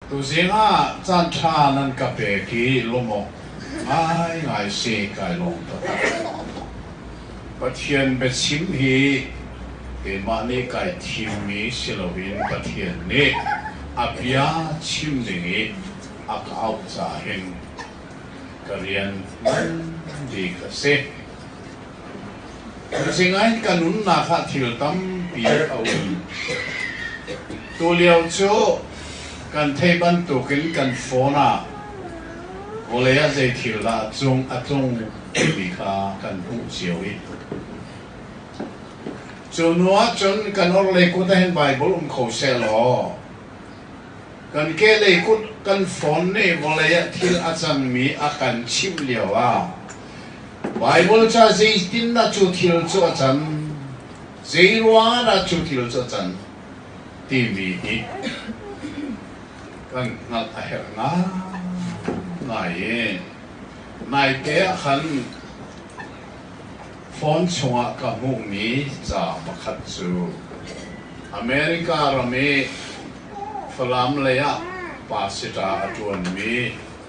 Tuzing ah caanṭha nan ka pek i lawm awk ngaingai si kai lawm taktak. Pathian biachim hi keimah nih kai thimmi si loin Pathian nih a bia chim ding i a ka auh caah hin ka rian ngan bik a si. Sinain ka nunnak ah thil tampi a um. Tulio cu kan thei bantukin kan phone ah vawlei ah zei thil dah a cung a tlung ti kha kan hmuh cio i cu hnu ah cun kan orhlei kut ah hin Baibal um kho seh law kan kehlei kut kan phone nih vawlei ah thil a cangmi a kan chimh lio ah Baibal ca zeitindah cu thil cu a can, zeiruangahdah cu thil cu a can timi hi kan hngalh a herh ngai i naite ah khan phone chungah ka hmuhmi ca pakhat cu America ram i Falam lei ah pasita a ṭuanmi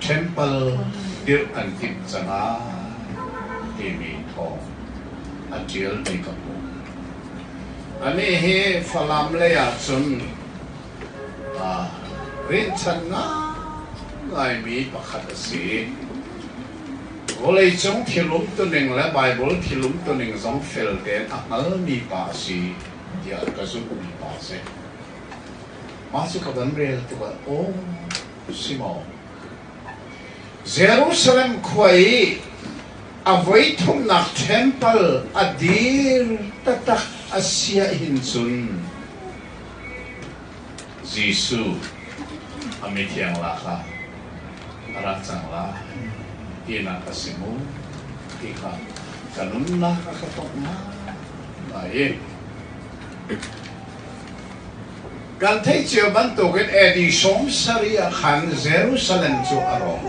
temple dirh an timh cang ai timi thawng a ṭialmi ka hmu. Anih hi Falam lei ahcun aa rinhchan ngaingaimi pakhat a si i vawleicung thil umtuning le Baibal thil umtuning zong fel tein a hngalmi pa a si tiah ka zumhmi pa a si. Mah cu ka van rel tikah, aw, Jerusalem khua i a voithumnak ṭhempal a dir taktak a sia hin cun Jesuh a mithiang la kha a rak cang lai tinak a si mu ti kha ka nunnak a ka tawngh ngai i Kan theih cio bantukin Edison sari ah khan Jerusalem cu a rawng.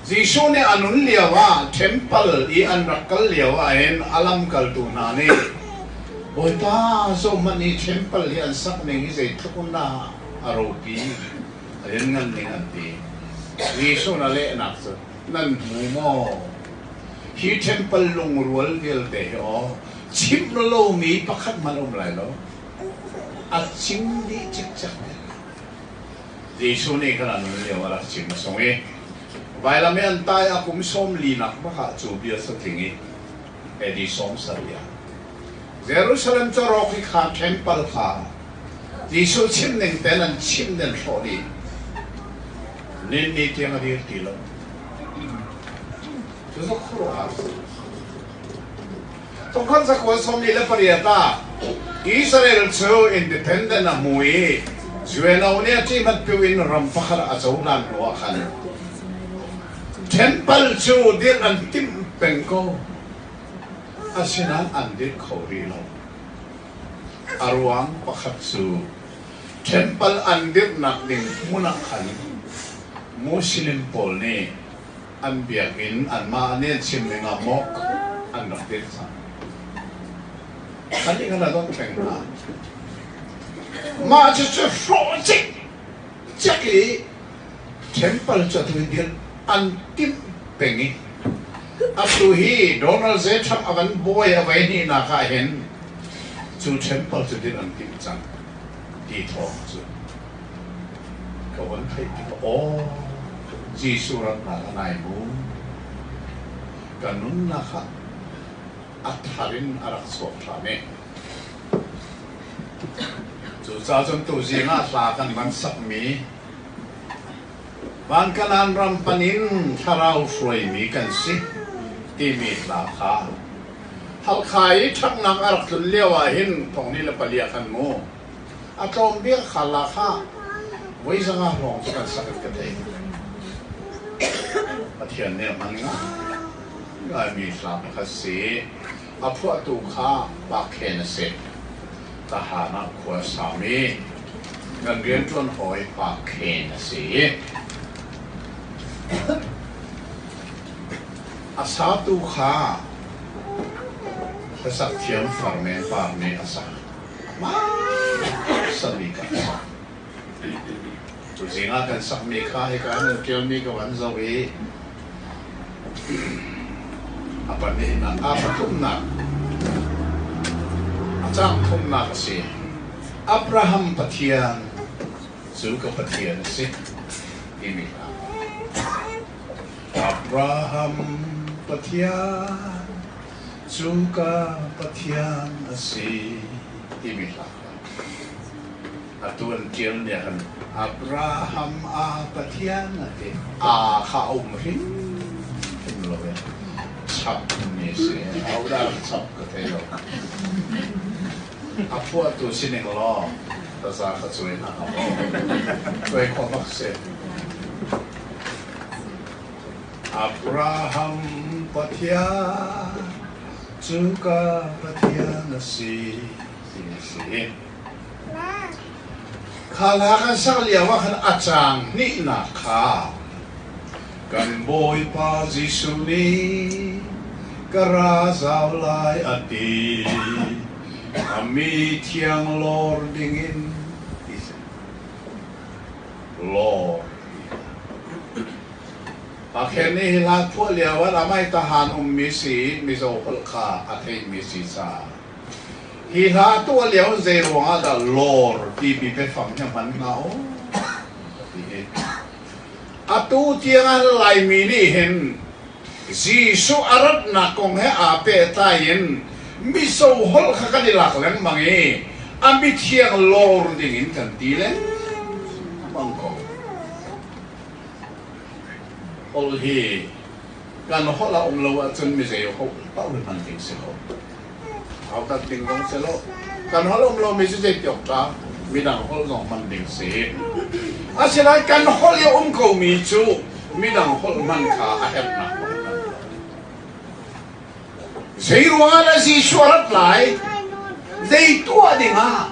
Jesuh nih a nun lio ah temple i an rak kal lio ahhin a lamkaltu hna nih Bawipa zohhmanh i temple hi an sak ning hi zeitluk in dah a ropi a lianngan ning an ti. Jesuh na lehnak cu nan hmu maw? Hi ṭhempal lungrual vialte hi aw, chimh lomi pakhat hmanh a um lai lo. A chim dih cikcek men. Jesuh nih kan nun lio a rak chim a sung i, Vailam i an tai a kum sawm linak bak ah cu bia satling i, Edison Saria. Jerusalem Cawrawk i kha temple kha Jesuh chimh ning tein an chimh ning hrawh dih. Ninni tiang a dir ti lo. Cu cu khuaruahhar a si. Tukhal zakhuan sawmli le pariat ah Israel cu independent a hmu i UNO nih a ṭih hmat piu in ram pakhat a cohlan hnu ah khan Ṭhempal cu dirh an timh peng ko. Asinain an dirh kho rih lo. A ruang pakhat cu ṭhempal an dirhnak ding hmun ah khan Muslim pawl nih an biakinn anmah nih an chim dingah maw an rak dirh cang. Khan nih kan rak dawt peng hna. Mah cucu hlawh cik cek i temple cu atu in an timh peng i atu hi Donald J. Trump a kan bawi a vei hnihnak ah hin cu temple cu din an timh cang ti thawng cu ka van theih tikah aw Jesuh ratnak a nai mu ka nunnak ah a thar in a rak chuak ṭhan i Cucacun tuzing ah hla kan van sakmi Vankanan ram pan in thlarau hruaimi kan si timi hla kha Halkha i ṭhaknak a rak tlun lio ah hin thongni le pali ah kan mu. A tlawm bia kha la kha voi zang ah lawng cu kan sak in ka thei. Pathian nih a hman ngai mi hla pakhat si. A phuahtu kha pa khen a si. Ka haan ah khua a sam i nan rianṭuan hawi pa khen a si i a satu kha hlasak thiam far men par nih a sa. Amah sami ka sa. Cu zingah kan sakmi kha hika nan ṭialmi ka van zoh i a pahnihnak, a pathumnak, a cang thumnak a si. Abraham Pathian cu ka Pathian a si timi hna. Abraham Pathian cu ka Pathian a si timi hla. Atu an ṭial nih khan Abraham a Pathian a ti. Aa kha a um hrimhrim lo i chapmi si, ahodah chap ka thei lo. A phuahtu si ning law taza ka cuai hna ka maw, cuai khawh bak si. Abraham Pathian cu ka Pathian a si, ti a si. Kha hna kan sak lioah khan a caang hnihnak kha kan Bawipa Jesuh nih ka ra zau lai a ti. A mi thiang lawr dingin ti seh. Lawr ti hlah. A khen i hi hla thuah lioah amai tahan ummi si i Mizo holh kha a theimi si ca. Hi hla a tuah lio zei ruangah dah lawr tipi biafang hi hman hnga aw ti hi. Atu tiangah Laimi nih hin Jesuh a ratnak kong he aa pehtlai in miso holh kha kan i lak lengmang i a mithiang lawr dingin kan ti lengmang ko. Holh hi Kan holh a um lo ahcun mizei holh paoh hman ding si lo. Hautat ding zong si lo. Kan holh a um lomi cu zei tiawk dah midang holh zong hman ding si. Asinain kan holh i a um komi cu midang holh hman kha a herhnak Zeiruangah na Jesuh a rat lai? Zei tuah dingah?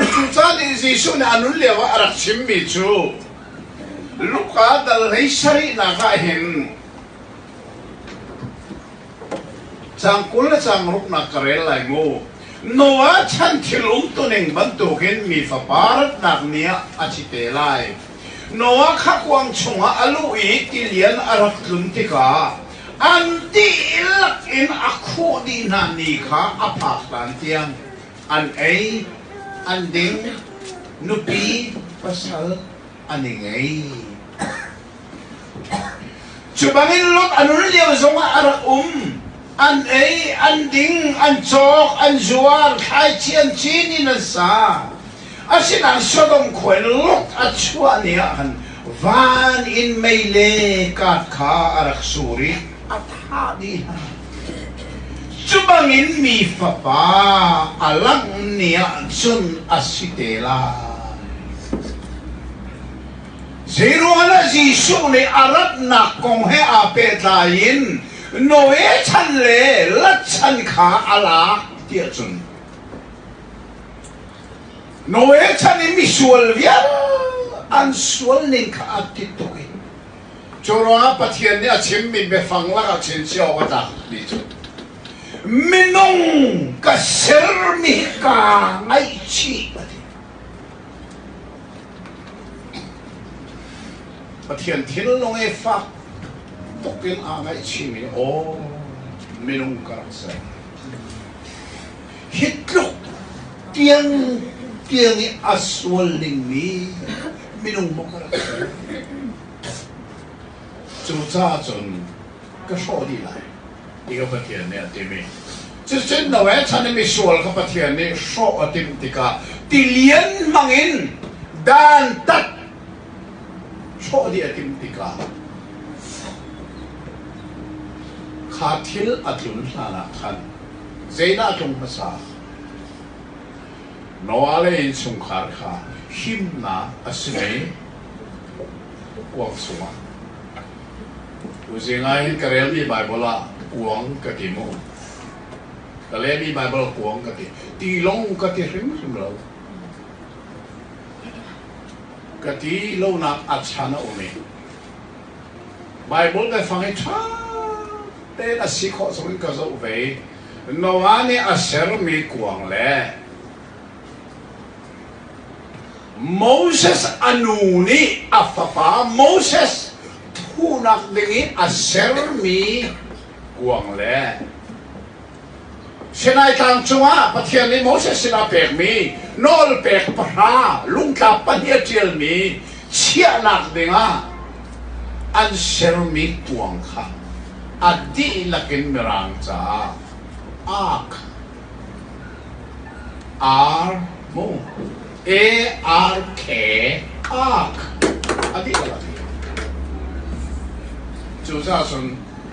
Cucaah nih Jesuh nih a nun lioah a rak chimmi cu Luka dal hlei sarihnak ah hin cang kul le cang ruknak ka rel lai mu. Noah chan thil umtuning bantukin mi fapa ratnak ni ah a thi te lai. Noah kha kuang chungah a luh i tilian a rak tlun tikah an dihlak in a khuh dih hna ni kha a phak hlan tiang. an ei, an ding, nupi pasal an i ngei. Cubangin lot an run lio zongah a rak um. An ei, an ding, an cawk, an zuar, thlaichian cin in an sa. Asinain Sodom khua in lot a chuah ni ahkhan van in mei le kat kha a rak sur i a thah dih hna. Cubangin mi fapa a langh ni ahcun a si te lai. Zeiruangah Jesuh nih a ratnak kong he aa pehtlai in Noe chan le Lat chan kha a lak ti ahcun Noe chan i misual vial an sual ning kha a ti tuk i Curuangah Pathian nih a chimmi biafang lakah chinsia awk a tlakmi cu minung ka sermi kaa ngaihchih a ti. Pathian thinlung i fak tuk in aa ngaihchihmi aw minung ka rak ser. hi tluk tiang tiang i a sual dingmi minung maw ka rak si? Cucaah cun ka hrawh dih lai ti ka Pathian nih a timi cucun no e chan i misual kha Pathian nih hrawh a timh tikah tilian hmangin dantat hrawh dih a timh tikah kha thil a tlun hlanah khan Zeidah a tlung hmasa? Noale innchungkhar kha himnak a si mei? Uang chungah. Kuzing ah hin ka relmi Baibal ah kuang ka ti maw? Ka lehmi Baibal kuang ka ti. Tilawng ka ti hrimhrim lo. Ka ti lonak a chan a um i Baibal biafang hi ṭha te a si khawh zong in ka zoh ve. Noah nih a sermi kuang le Moses a nu nih a fapa Moses thuhnak ding i a sermi kuang le Sinai tlang cungah Pathian nih Moses sinah a pekmi nawlpek pahra lungtlap pahnih a ṭialmi chiahnak dingah an sermi kuang kha a dihlak in Mirang caah ak ar mu e ar khe ak a dihlak a ti. Cucaah cun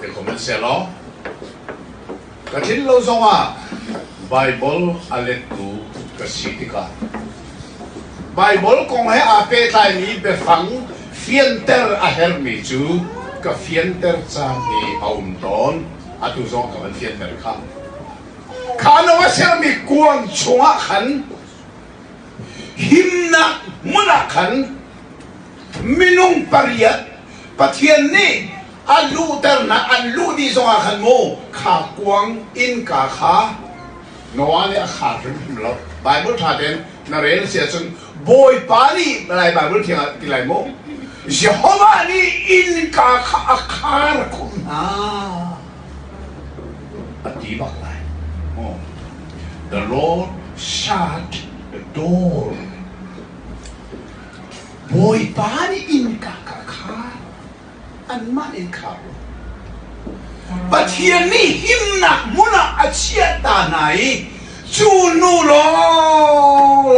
Sihmanhsehlaw ka tlin lo zongah Baibal a lettu ka si tikah Baibal kong he aa pehtlaimi biafang fianter a herhmi cu ka fianter caan hi a um tawn. Atu zong ka van fianter kha. Kha no a sermi kuang chungah khan himnak hmun ah khan minung pariat Pathian nih a luhternak an luh dih zongah khan maw kha kuang innka kha Noah nih a khar hrimhrim lo Bible ṭha tein na rel si ahcun Bawipa nih lai Bible thiang ah ti lai maw Jehovah nih innka kha a khar khumh hna a ti bak lai oh. The Lord shut the door Bawipa nih innka kha khan anmah in khar u. Pathian nih himnak hmun ah a chiah ta hna i cu hnu lawng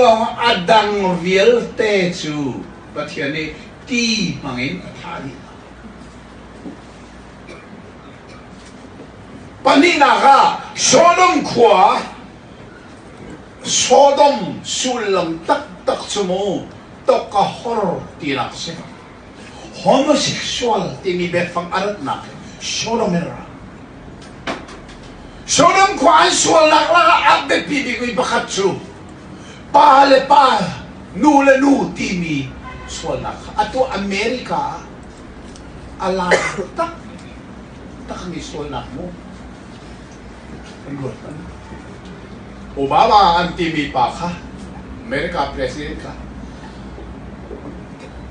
a dang vialte cu Pathian nih ti hmangin a thah dih hna. Pahnihnak ah Sodom khua Sodom sullam taktak cu mu toka hor tinak a si. Homosexual timi biafang a ratnak hi sodomer ah. Sodom khua an sualnak lakah a biapi bikmi pakhat cu pa le pa, nu le nu timi sualnak kha a tuah America ah a lang takmi takmi sualnak mu. Obama an timi pa kha America president kha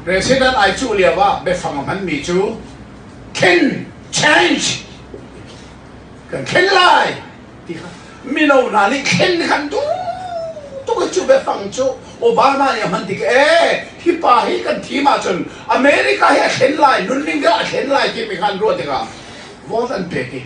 president ai cuh lio ah biafang a hmanmi cu can change kan thlen lai ti kha mino hna nih thlen khan duh tuk cu biafang cu Obama nih a hman tik ee hi pa hi kan thim ahcun America hi a thlen lai nunning a thlen lai timi khan ruah tikah vote an pek i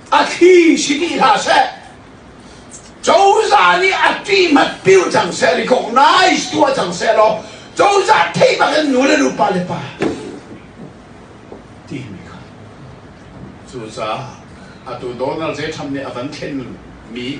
a thli si ti hlah seh cozah nih a ṭihmat pil cang seh recognize tuah cang seh law cozah theih bak in nu le nupa le pa timi kha cucaah atu Donald J. Trump nih a van thlen mi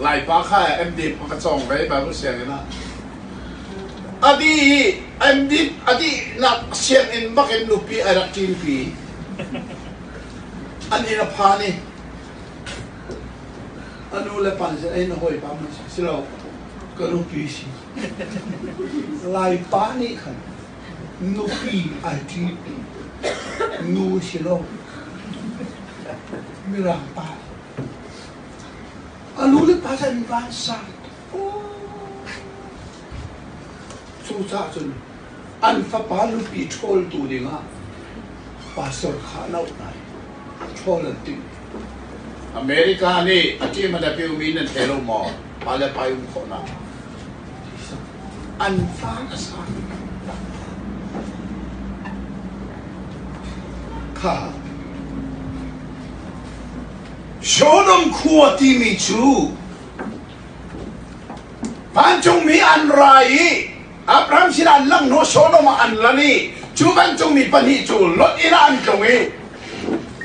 Laipa kha MDiP a ka cawng ve Babu sianginn ah. A dih i MDiP a dihnak sianginn bakin nupi a rak ṭinpi. An inn a phan i a nu le pa sin ei na hawipa man si lo ka nupi si. Laipa nih khan Nupi ai tlip, nu si lo, mirang pa. A lu le pasal in van sa. Cucaah cun an fapa nupi ṭhawl tu dingah pastor kha a loh lai. Ṭhawl an ti. America nih a ṭim an a piumi nan thei lo maw? Pa le pa i um khawhnak an pa a sa kha Sodom khua timi cu vancung mi an ra i Abraham sinah an lang hnu Sodom ah an lan i cu vancung mi pahnih cu Lot inn ah an tlung i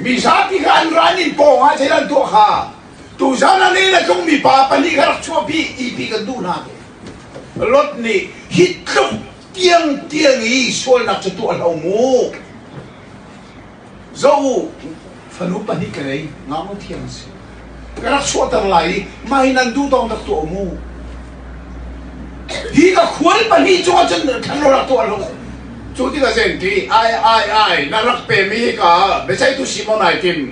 mi zapi kha an ran in pawng ah zeidah an tuah kha Tuchan ah le tlungmi pa pahnih ka rak chuahpi ti ti kan duh hna ve. Lot nih hi tluk tiang tiang i sualnak cu tuah hlo mu. Zo u, fanu pahnih ka ngei, ngaknu thiang si. Ka rak chuahter lai i mah hi nan duh tawng rak tuah mu. Hi ka khual pahnih cu ahcun thlan rak tuah lo. Cu tikah zen ti ai ai ai na rak pemi hika biaceihtu Simon ai tim.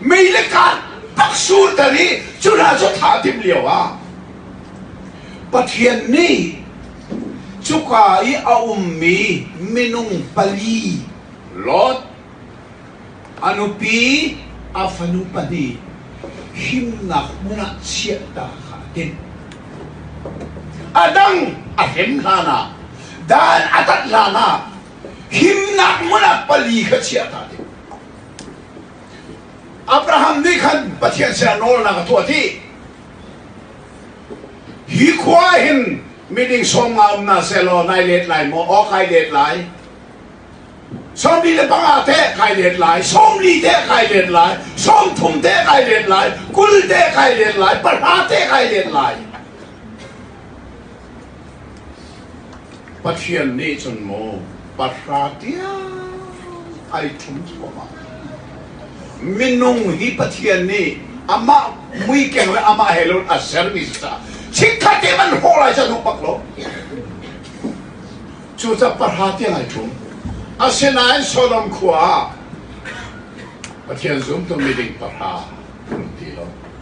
Mei le kaan rak surter i cuna cu thla a tim lio ah Pathian nih cuka i a ummi minung pali Lot a nupi a fanu pahnih himnak hmun ah chiahtak kha a timh. A dang a him hlan ah dan a tat hlan ah himnak hmun ah pali kha chiah ta ding. Abraham nih khan Pathian sinah nawlnak a tuah dih. Hi khua hin miding sawm nga um na sehlaw nai let lai maw? Aw kai let lai. Sawmli le panga te kai let lai. Sawmli te kai let lai. Sawmthum te kai let lai. Kul te kai let lai. Pahra te kai let lai. Pathian nih cun maw pahra tiang ai ṭhum cuahmah. Minung hi Pathian nih amah muikeng le amah he loin a sermi si caah chikkhat i an hrawh lai cu an hung pak lo. Cucaah pahra tiang ai ṭhum. Asinain Sodom khua ah Pathian zumtu miding pahra an um ti lo.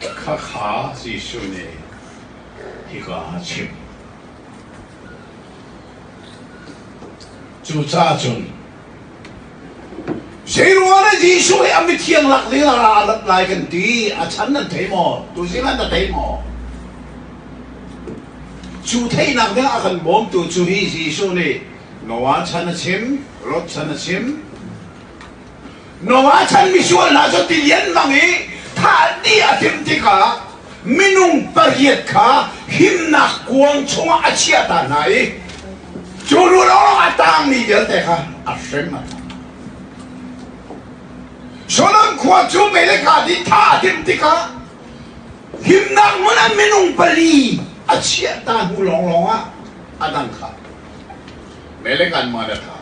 Khakha Jesuh nih hika a chim. Cucaah cun zei ruangah Jesuh hi a mithiang lak dingah a rat lai kan ti. A chan nan thei maw? Tuzing an na thei maw? Cu theihnak ding a kan bawmtu cu hi Jesuh nih Noah chan a chim, Lot chan a chim, Noah chan misual hna cu tilian mang i thahni a timh tikah minung pariat kha himnak kuang chungah a chiah ta hna i cu hnu lawng a tangmi vialte kha a hrem a Sodom khua cu melekadi tha a timh tikah himnak hmun ah minung pali a chiah ta hnu lawnglawng ah a dang kha melekan ma da tha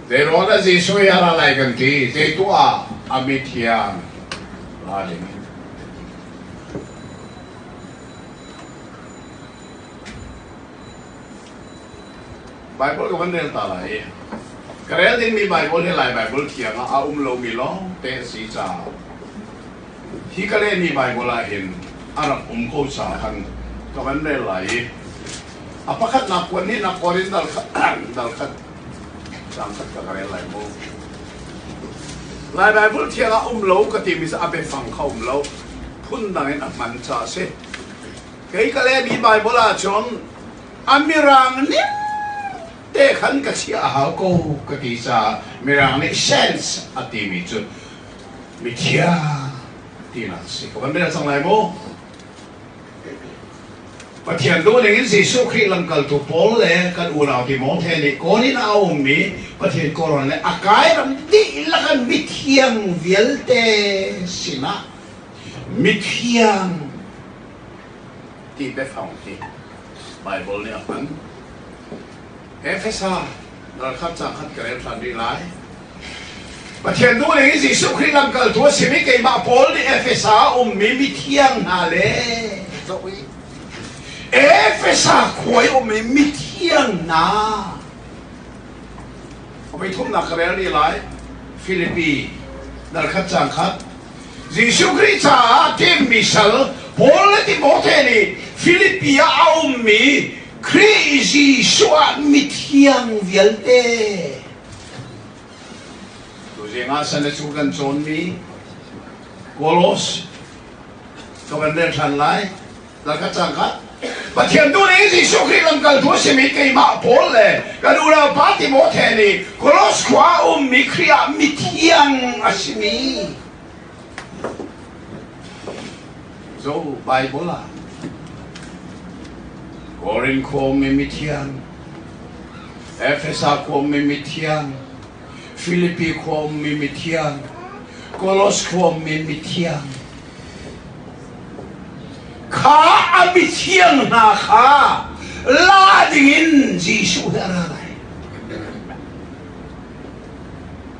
Teirawt ah Jesuh hi a ra lai kan ti. Zei tuah ah a mithiang ra ding in. Bible tu kan rel ta lai i ka rel dingmi Bible hi Lai Bible thiang ah a um lomi lawngte a si caah hi ka lehmi Bible ah hin a rak um ko sa khan ka van rel lai i a pakhatnak kuan nih na Korinth dal khat dal khat Lai Baibal thiang ah um lo ka timi a biafang kha um lo phundang in a hman ca a si. Kei ka lehmi Baibal ah cun a mirang ning te khan ka si a hau ko ka ti ca mirang nih sense a timi cu mithiang tinak a si. Ka van mena cang lai mu. Pathian duhning in Jesuh Khrih lamkaltu Paul le kan unau Timote nih kawn in a ummi Pathian kawlrawn le a kairam dihlak an mithiang vialte sinah mithiang ti biafang hi Bible nih a hman. Efesa ralkap ca khat ka rel ṭhan rih lai. Pathian duh ning in Jesuh Khrih lamkaltu a simi keimah Paul nih Efesa ah ummi mithiang hna le zoh i Efesa khua i ummi mithiang hna pithumnak ka rel rih lai. Filipi darkhat cang khat Jesuh Khrih caah timhmi sal Paul le Timote nih Filipi ah a ummi Khrih Jesuh ah mithiang vialte. Tu zingah san le cu kan cawnmi Kolos ka van rel than lai. Laka cangka Pathian tu nih Jesuh Khrih lamkaltu a simi keimah Paul le kan unaupa Timote nih Kolos khua a ummi Khrih ah mithiang a simi Caw Baibal ah Korin khua mi mithiang, Efesa khua mi mithiang, Filipi khua mi mithiang, Kolos khua mi mithiang. Kha a mithiang hna kha la dingin Jesuh he a ra lai.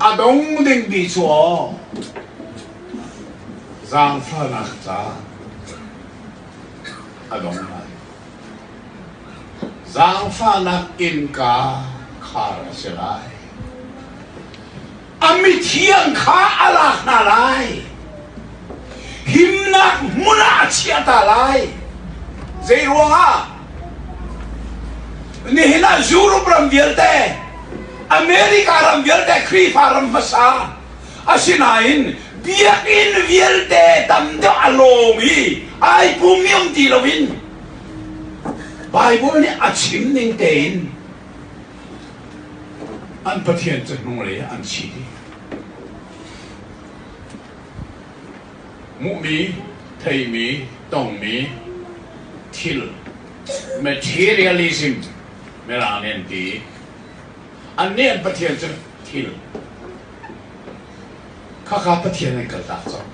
A dong dingmi cu zaangfahnak ca a dong lai. Zaangfahnak innka khar a si lai. A mithiang kha a lak hna lai. himnak hmun ah a chiah ta lai. Zeiruangah? Nihin ah Europe ram vialte, America ram vialte Khrihfa ram hmasa, asinain biakinn vialte tam deuh a lawng i ai pumiam ti loin Bible nih a chim ning tein an Pathian cu hnulei ah an thi dih. Hmuhmi, theimi, tongmi thil materialism mirang nih an ti i an nih an pathian cu thil khakha pathian an kal tak cang.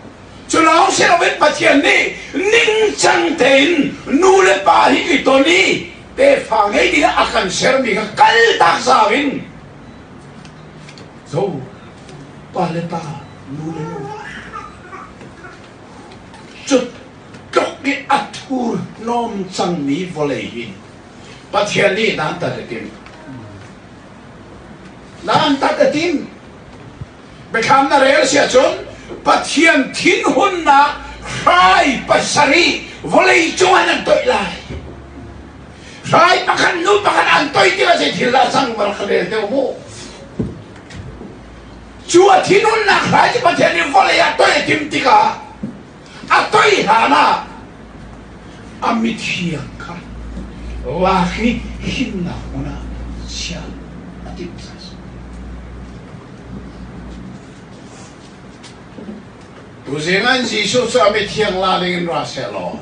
Cu lawng si loin Pathian nih ningcang tein nu le pa hi i ton i tefa ngei dingah a kan sermi kha kal tak zau in zo pa le pa nu le nu hna hi cutluk i a thur hnawm cangmi vawlei hi Pathian nih nan tat a tim nan tat a tim biathlam na rel si ahcun Pathian thinhunnak hrai pasarih vawlei cungah nan toih lai hrai pakhat nu pakhat an toih tikah zei thil dah cang mar kha rel deuh mu cu a thinhunnak hrai cu Pathian nih vawlei ah toih a tim tikah a toih hlan ah a mithiang kha lak i himnak hmun ah chia a timh Tuzing an Jesuh cu a mithiang la ding in ra se law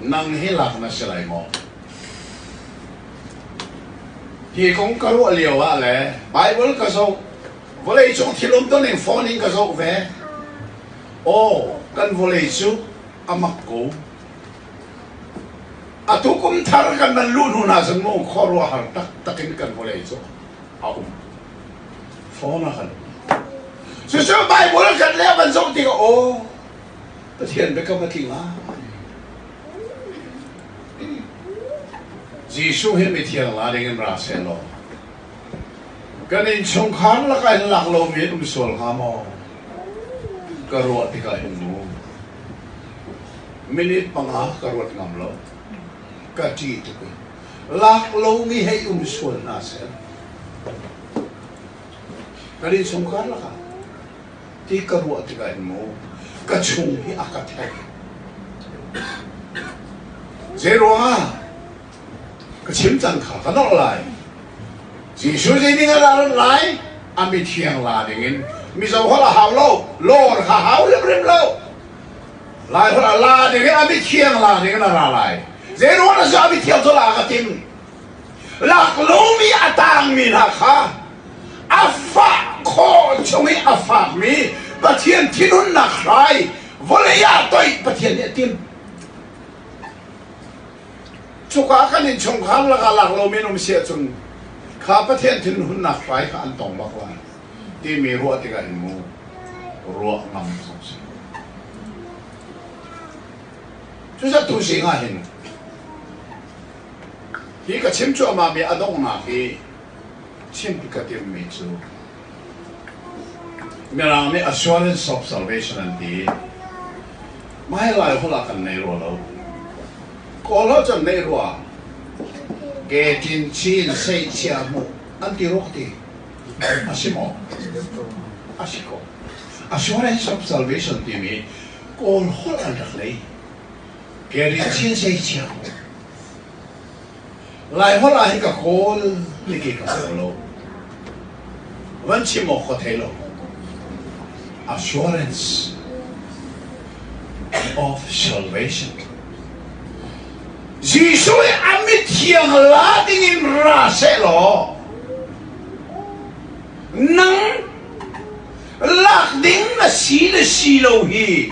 nang hi lak na si lai maw? Hi kong ka ruah lio ah le Baibal ka zoh, vawleicung thil um tuning fawn in ka zoh ve. Aw, kan vawlei cu a mak ko. Atu kum thar kan nan luh hnu hna cun mu khuaruah har taktak in kan vawlei cu a um. Fawn a kan. Cucu Baibal kan le van zoh tik, aw, Pathian biakam a tling ah. Jesuh hi mithiang la dingin ra sehlaw kan innchungkhar lakah hin lak lomi um sual hnga maw? Ka ruah tikah hin mu. Minute panga ka ruat ngam lo. Ka ṭi tuk in. Lak lomi hei um sual hna seh. Kan innchungkhar lakah ti ka ruah tikah in mu ka chung hi a ka thek zeiruangah ka chim cang kha ka norh lai Jesuh zeining a ran lai a mithiang la dingin mizo hol a hau lo lor kha hau rimrim lo lai hol a la dingin a mithiang la dingin a ra lai zeiruangah na cu a mithiang cu la ka tim Laklawmi a tangmi hna kha a fah khawh chung i a fakmi Pathian thinhunnak hrai vawlei ah toih Pathian nih a tim. Cuka kan innchungkhar lakah laklomi an um si ahcun kha Pathian thinhunnak hrai kha an tong bak lai timi ruah tikah in mu ruah ngam zong si. Cucu tu sing ah hin Hi ka chim cuahmahmi a donghnak hi chim ka timmi cu Mirang nih assurance of salvation an ti. Mah hi Laiholh ah kan nei rua lo. Kawl ho cun nei rua. Ke Tin Chin Sei Chia Mu an ti rua ti. A si maw? A si ko. Assurance of salvation timi Kawl holh an rak nei. Keri chin sei chia. Lai hol ah hi ka kawl ni ki ka kawl lo. Van chim mo kho thei lo. Assurance of salvation. Jesuh i a mithiang la dingin ra se law nang lak ding na si le si lo hi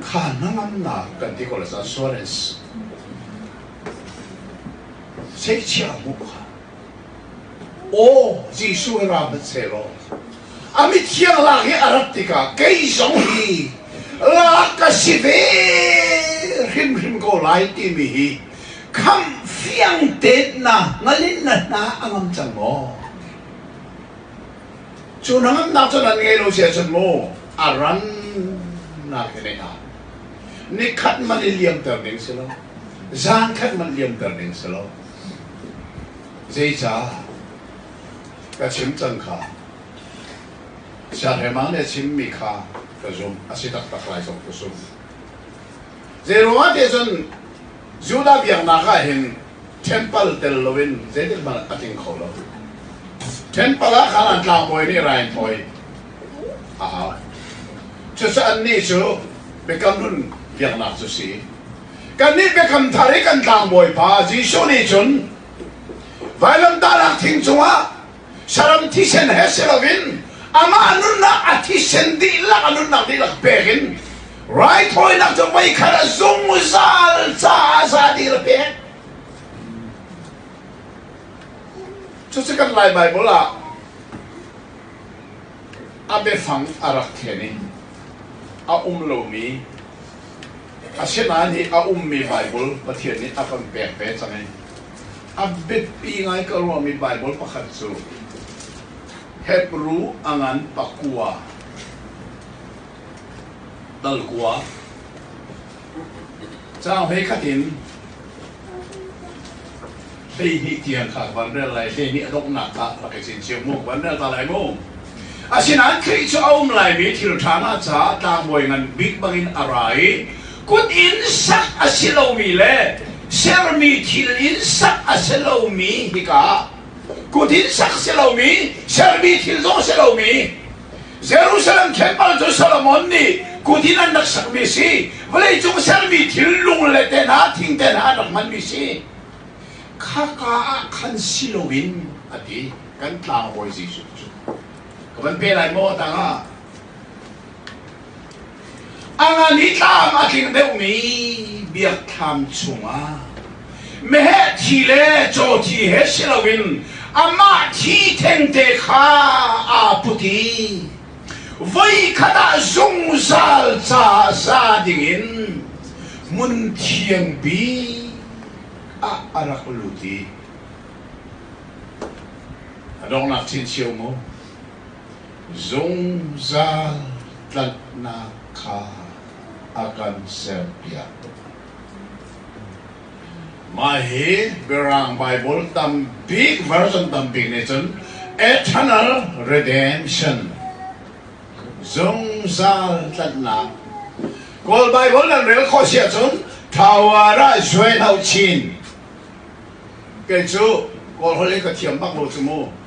Kha hnangamnak kan ti ko le cun assurance seichia bu kha aw Jesuh hi ra hmanh sehlaw a mithiang lak hi a rat tikah kei zong hi lak ka si ve hrimhrim ko lai timi hi kham fiang teet na ngalin na hna a ngam cang maw? Cu hnangamnak cun an ngei lo si ahcun maw a rannak hi nei hna. Ni khat man i liamter ding si lo. Zan khat man liamter ding si lo. Zeicah? Ka chim cang kha. Siahrema nih a chimmi kha ka zumh a si taktak lai sok kusum. Zeiruangah ti cun Judah biaknak ah hin Temple tel loin zeitik hmanh a tling kho lo. Temple ah khan an tlangbawi nih rai an thawi a hau. Cucaah annih cu Biakam Nun biaknak cu si. Kannih Biakam Thar i kan tlangbawi pa Jesuh nih cun vailamtahnak thing cungah saram thisen he si loin amah nunnak a thisen dihlak a nunnak dihlak pek in raithawinak cu voikhat a zungzal caah zadir pek cucu kan lai bible ah a biafang a rak then i a um lomi asinain hi a ummi bible pathian nih a kan pek ve cang i A biapi ngai ka ruahmi Baibal pakhat cu Hebru a ngan Pakua Talkua Caang hlei khat in hleihnih tiang kha van rel lai hleihnih a donghnak kha rak i chinchiah mu van rel ta lai mu asinain Khrih cu a um laimi thil ṭha ngah caah tlangbawi ngan bik bangin a ra i kut in sak a si lomi le sermi thil in sak a si lomi hika kut in sak si lomi sermi thil zong a si lomi Jerusalem temple cu Solomon nih kut in an rak sakmi si vawleicung sermi thil lung le te hna thing te hna an rak hmanmi si khaka ah khan si loin a ti kan tlang bawi Jesuh cu ka van pe lai maw tangah A ngan i tlam a tling deuhmi biakthlam chungah meheh thi le caw thi he si loin amah thi thengte kha aa put i voi khat ah zungzal ca sa dingin hmun thiangpi ah a rak lut i a donghnak chin cio maw zungzal tlanhnak kha a kan serpiak. Mah hi Mirang Bible tam bik version tam bik nih cun eternal redemption zungzal tlanhnak Kawl Bible nan rel khawh si ahcun thawara zuai hau chin kei cu Kawl holh in ka thiam bak lo cu mu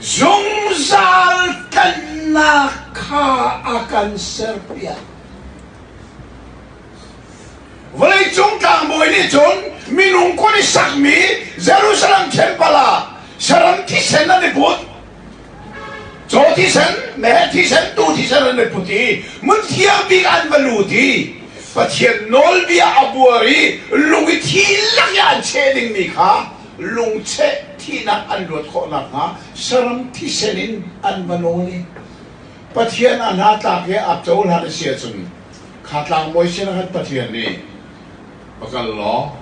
Zungzal tlanhnak kha a kan serpiak. Vawleicung tlangbawi nih cun minung kun i sakmi Jerusalem temple ah saram thisen an i put. Caw thisen, meh thisen, tu thisen an i put i mun thiang bik an va lut i Pathian nawlbia a buar i lung i thi lak in an cheh dingmi kha lungcheh thihnak an luat khawh nakhnga saram thisen in an va nawl i Pathian a hna tlak he aa cohlan a si ahcun kha tlangbawi sinah khan Pathian nih va kal law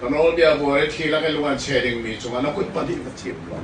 ka nawlbia buar i thi lak i lungan che dingmi cungah na kut pahnih va thiam law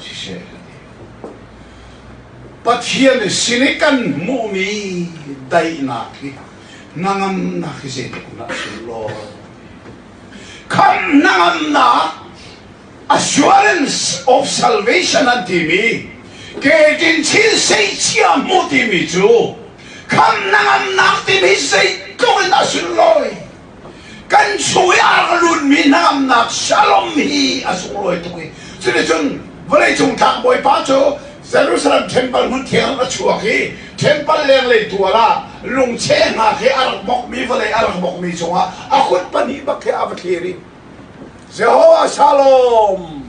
siseh an ti. Pathian sin i kan hmuhmi daihnak hi hnangamnak hi zeitikhmanh a si lo. Khamh hnangamnak assurance of salvation an timi Ketin chin sei chia mu timi cu khamh hnangamnak timi zeitluk in a sunlawi Kan sui a rak lunmi hnamnak shalom hi a sunglawi tuk i cuticun vawleicung tlang bawipa cu Jerusalem temple hmun thiang a chuak i temple lenglei tual ah lungcheh hna khi a rak bokmi vawlei a rak bokmi cungah a kut pahnih bak khi a va thlir i Jehovah shalom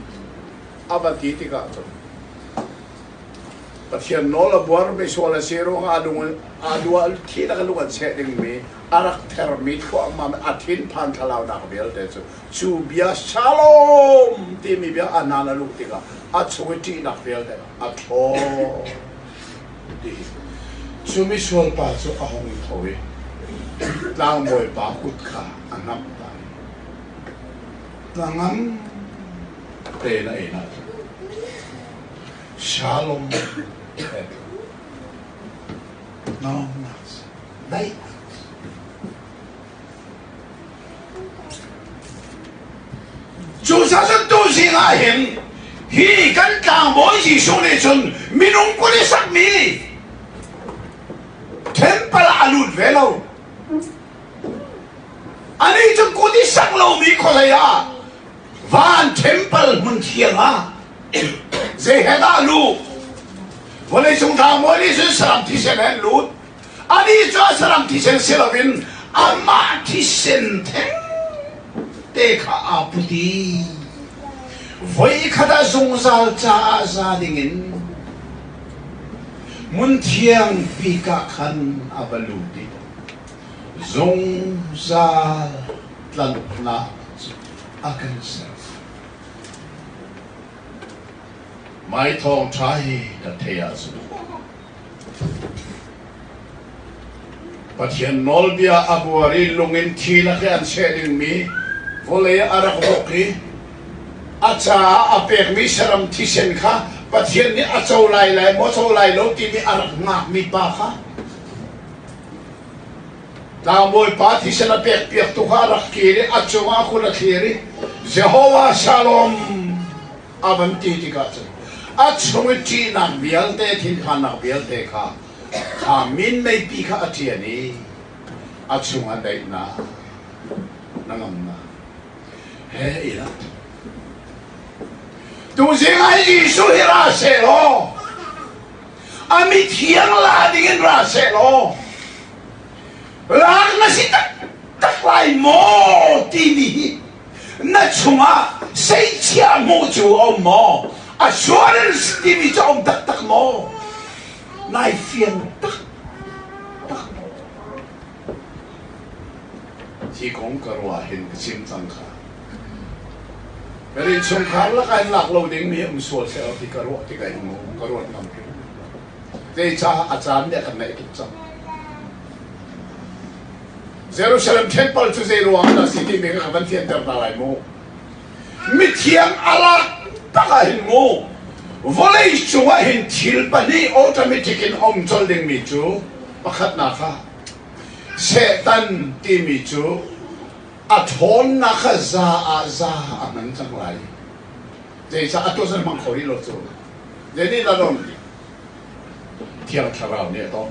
a va ti tikah cun Pathian nawl a buar mi sual a si ruangah a lung a lu a thi lak a lung an seh dingmi a rak thermi thluahmah a thinphan thlalaunak vialte cu cu bia shalom timi bia a nan a luh tikah a chung i ṭihnak vialte a thlaw tihi cu misual pa cu a hung i tho i tlangbawi pa kut kha a hnamh ta i hnangam tein a ei na shalom Amen. No, not. Daih. Cu sasantu zing ah hin hi kan tlangbawi Jesuh nih cun minung kul i sakmi temple ah a lut ve lo. Anih cun kut i sak lomi khualei ah van temple hmun thiang ah zei he dah a luh? Vawleicung tlangbawi nih cun saram thisen he an lut. Anih cu a saram thisen si loin amah thisen thengte kha aa put i voikhat ah zungzal caah za dingin hmun thiang bikah khan a va lut i zungzal tlanhnak cu a kan ser. Mai thawng ṭha hi ka thei ahcun Pathian nawlbia a buar i lung in thil a ke an seh dingmi vawlei a rak ruk i a caah a pekmi saram thisen kha Pathian nih a co lai lai maw co lai lo timi a rak ngakmi pa kha tlangbawi pa thisen a pek piak tu kha a rak kir i a cungah a kul a thlir i Jehovah Shalom a van ti tikah cun a chung i ṭihnak vialte thinphannak vialte kha kha minmeipi kha a ṭian i a chungah daihnak na ngamnak he i rat tu zingah Jesuh hi ra sehlaw a mithiang la dingin ra sehlaw lak na si tak tak lai maw timi hi Na chungah seichia hmuh cu a um maw? Assurance timi cu a um taktak maw? Nai fiang tak tak maw? Hi kong ka ruah hin ka chim cang kha. Kan innchungkhar lakah in lak lo dingmi um sual thleo hi ka ruah tik mu, ka ruat ngam hrim. Zeicah a caan nih a kan naih tuk cang. Jerusalem thengpal cu zeiruangah dah a si timi kha ka van fianter hna lai mu. Mithiang a rak tak ah hin mu, vawlei cungah hin thil pahnih automatic in um colh dingmi cu pakhatnak kha Satan timi cu a ṭhawnnak kha za ah za a hman cang lai. Zeicah a tuah an hmang kho rih lo cu? Zeinihdah don? Thiang Thlarau nih a tawh.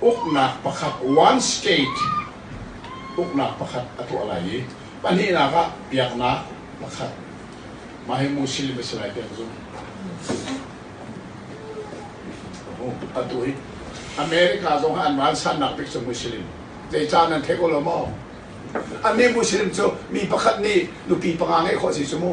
uknak pakhat, one state, uknak pakhat a tuah lai i pahnihnak ah biaknak pakhat. Mah hi Muslim a si lai tiah ka zumh. Atu hi America zong an vansannak bik cu Muslim. Zei caan nan thei ko lo maw? An nih Muslim cu mi pakhat nih nupi panga ngeih khawh si cu mu.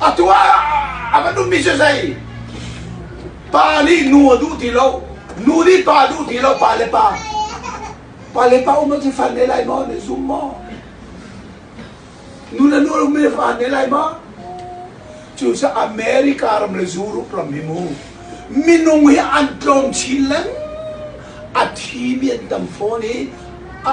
Atu ah a kan ummi cu zei? Pa nih nu a duh ti lo, nu nih pa a duh ti lo, pa le pa. Pa le pa um a ti fan ne lai maw? Ne zum maw? Nu le nu um ne fan ne lai maw? Cucu America ram le Europe ram hi mu minung hi an tlawm chin leng a thi mi an tam fawn i a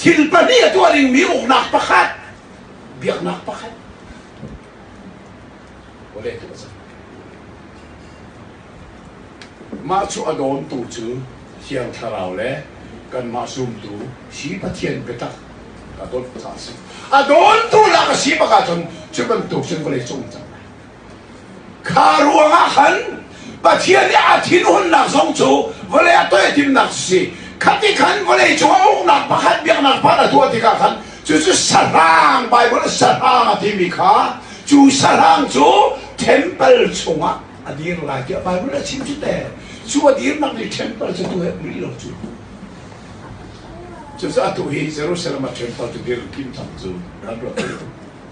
Thil pahnih a tuah dingmi uknak pakhat, biaknak pakhat. Vawlei thil a si. Mah cu a dawntu cu Thiang Thlarau le kanmah zumtu si Pathian biatak ka dawt caah a si. A dawntu lak a si bak ahcun cu bantuk cun vawlei cung cang. Kha ruangah khan Pathian nih a thinhunnak zong cu vawlei a toihtimnak si. Khati khan vawlei cung a uknak pakhat biaknak pakhat a tuah tikah khan cucu sahrang Baibal sahrang a timi kha cu sahrang cu temple chungah a dir lai tiah Baibal a chim cu te cu a dirnak nih temple cu tu he uri lo cu cucu atu hi Jerusalem a temple cu dirkim thang cu kan ruat lo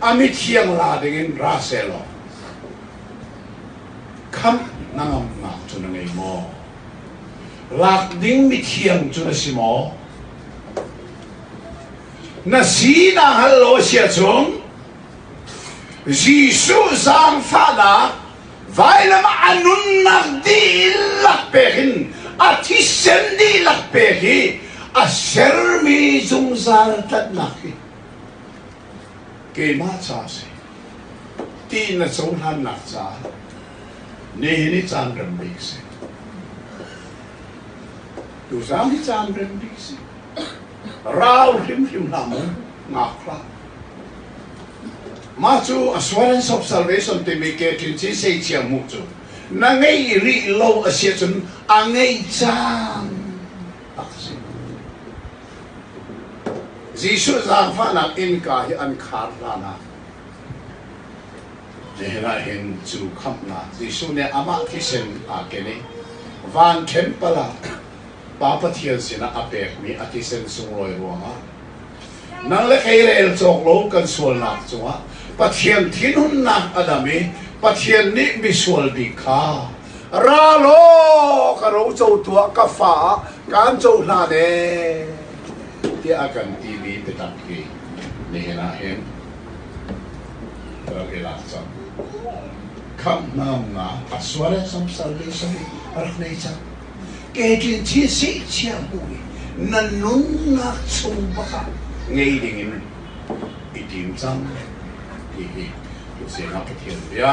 a mithiang la dingin ra sehlaw khamh na ngamnak cu na ngei maw lak ding mithiang cu na si maw na si na hal lo sia chung Jesuh zaangfahnak vailamah a nunnak dihlak pek in a thisen dihlak pek hi a sermi zungzal tlanhnak hi keimah ca a si, ti na cohlannak caah nihin i caan rem bik a si. Tuzang hi caan rem bik a si. Rau hrimhrim hlah mu, ngak hlah. Mah cu assurance of salvation timi ke tlin si sei chia mu cu. Na ngei rih lo a si ahcun a ngei cang. Jesuh zaangfahnak innka hi an khar hlan ah nihin ah hin cu khamhnak Jesuh nih amah thisen aa ken i van ṭhempal ah Pa Pathian sinah a pekmi a thisen sunglawi ruangah nang le kei rel cawk lo kan sualnak cungah Pathian thinhunnak a dam i Pathian nih misual bik kha ra law ka ro co tuah ka fa kan co hna ne tiah a kan ti mi biatak hi nihin ah hin rak i lak cang khamhnam nga a suare sam sarle sami a rak nei cang ketlin thi si chiang bu nan nunnak chung bakah ngei ding in i tim cang ti hi tu siang ah pathian bia